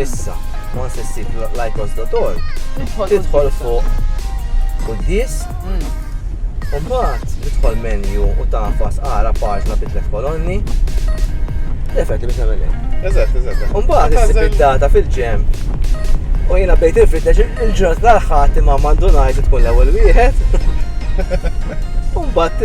Issa, ma se ssib l-ajkos dotor, tidħol fuq kuddis, mm. u mbagħad tidħol menju u tafas ara paġna bi tliet kolonni. Lefet li biex nagħmel Eżatt, eżatt. U mbagħad issib id-data fil-ġemp. U jiena bdejt infittex il-ġurnat l-aħħar imma m'għandu ngħid tkun l-ewwel wieħed. U mbagħad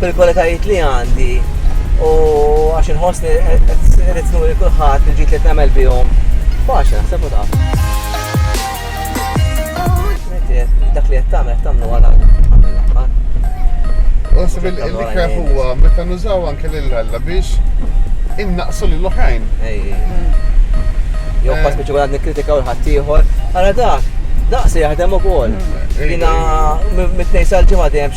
bil-kwalitajiet li għandi u għax inħossni qed nuri kulħadd il-ġid li qed nagħmel bihom. Faċli naħseb u taf. Dak li qed tagħmel tagħmlu għal Nasib il-ikra huwa meta nużaw anke l-alla biex innaqsu l oħrajn Jow pas eh. biex għadni kritika u l-ħattijħor, għara dak, daqsi jaħdem u kol. Mm. Jina, mit-tnejn sal-ġimma dejjem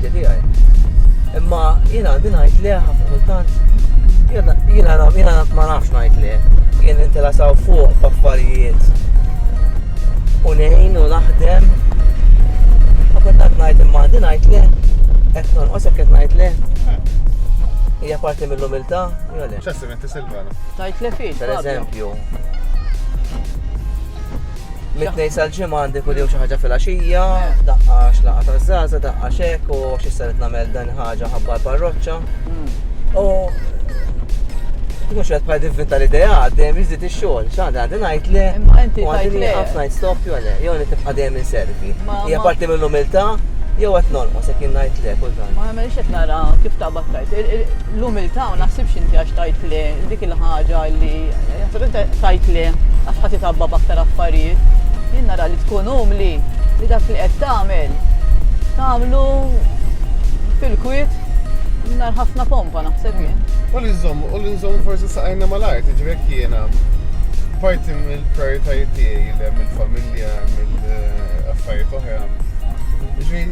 l-atti tiegħi. Imma jien għandi ngħid le ħafna kultant jiena ma nafx ngħid le. Jien intelasaw fuq b'affarijiet u nejn u naħdem. Ma kultant ngħid imma għandi ngħid le qed tonqos hekk qed ngħid le. Hija parti mill-umiltà, jew le? Menti Silvana. Tajt li fiex. Per eżempju. Mitnej sal-ġimgħa għandi kull xi ħaġa fil-għaxija, eh. daqqa xlaqa ta' żaza, daqqa xek u xi saret nagħmel dan ħaġa ħabba l-parroċċa. Hmm. U mhux qed bħal divvinta l-idea għaddejjem jiżdied ix-xogħol, x'għandha għandi ngħid le. Imma inti ngħid le. Ħafna ngħid stop jew le, jew li tibqa' dejjem inservi. Hija parti mill-umiltà jew qed nolqos jekk ngħid le kultant. Ma għamilx qed nara kif ta' battajt. L-umiltà ma naħsibx inti għax tgħid le, dik il-ħaġa li naħseb inti tgħid le għax ħadd itgħabba b'aktar affarijiet. Jien nara li tkun umli li dak li qed tagħmel tagħmlu fil-kwiet mingħajr ħafna pompa naħseb jien. U li nżomm, u li nżomm forsi saqajna mal-art, ġivek jiena parti mill-prioritajiet tiegħi li mill-familja, mill-affarijiet oħra. Ġi,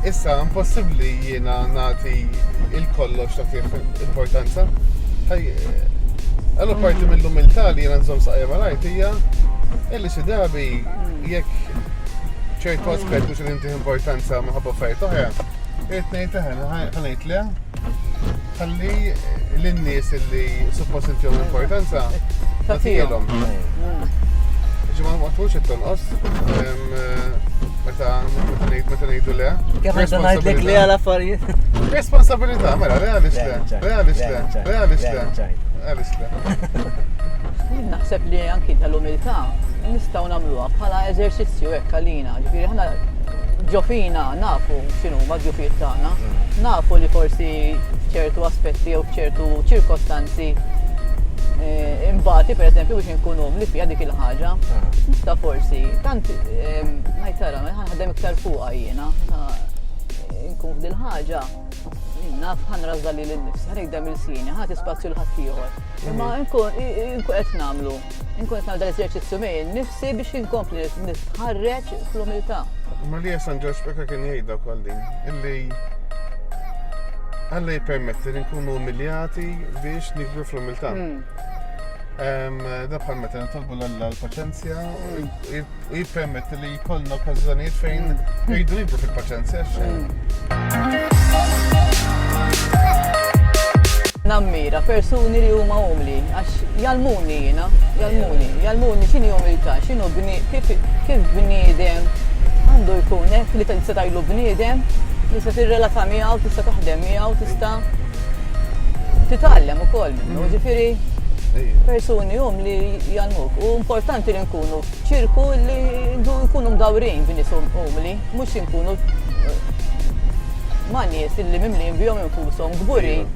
issa impossibbli Jiena nagħti il-kollox tagħtih importanza. Għallu parti mill-umiltà li jiena nżomm saqja mal-art hija illi xi drabi jekk ċertu aspett mhux qed intih importanza minħabba affarijiet oħra, irid ngħid eħe, ħanejt le. Ħalli l-nies li suppost inti jom importanza, ta' tijelom. Ġimma ma tħux it-tonqos, meta nejdu le. Kif għajta najdlek le għal affarijiet? Responsabilità, mela, le għalix le, le għalix le, le għalix le, għalix le. Naħseb li anki tal-umiltà nistaw namluha bħala eżerċizzju hekk għalina, ġifieri ħana Ġo fina nafu x'inhuma d-djufijiet tagħna, mm. nafu li forsi ċertu aspetti jew ċertu ċirkostanzi eh, imbati per eżempju biex nkunu li fija dik il-ħaġa. Nista mm. forsi, tant eh, najtara, ħadem iktar fuqa jiena, nkun f'dil ħaġa, naf ħan razza li l-nifs, ħanek dam il-sini, ħat ispazju l-ħattijħor. Imma mm. nkun qed namlu Inkun nagħmel dal-eżerċizzju miegħi nnifsi biex inkompli nitħarreġ fl-umiltà. Imma li San Ġorġ Peka kien jgħidha wkoll din, illi Alla jippermetti li nkunu umiljati biex nikbru fl-umiltà. Hmm. Da bħal meta nitolbu l-Alla l-paċenzja, u jippermetti li jkollna okkażjonijiet fejn jgħidu jibdu fil-paċenzja. Nammira persuni li huma umli, għax jalmuni jiena, jalmuni, jalmuni x'inhi umiltà, x'inhu kif bniedem għandu jkun hekk li tista' tajlu bniedem, tista' tirrelata miegħu, tista' taħdem miegħu, tista' titgħallem ukoll minnu, ġifieri persuni umli jalmuk. U importanti li nkunu Ċirku li jdu jkunu mdawrin bi nies umli, mhux inkunu ma' nies illi mimlijin bihom infushom, kburin.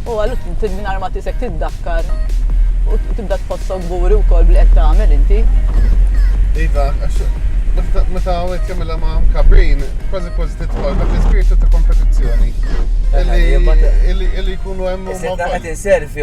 U għallu mingħajr ma tisek tiddakkar u tibda tħossok kburi wkoll b'li qed tagħmel inti. Iva, meta għawek kamilla ma' kabrin, kważi kważi titħol dak l-ispirtu ta' kompetizzjoni. Illi jkunu hemm. Qed inservi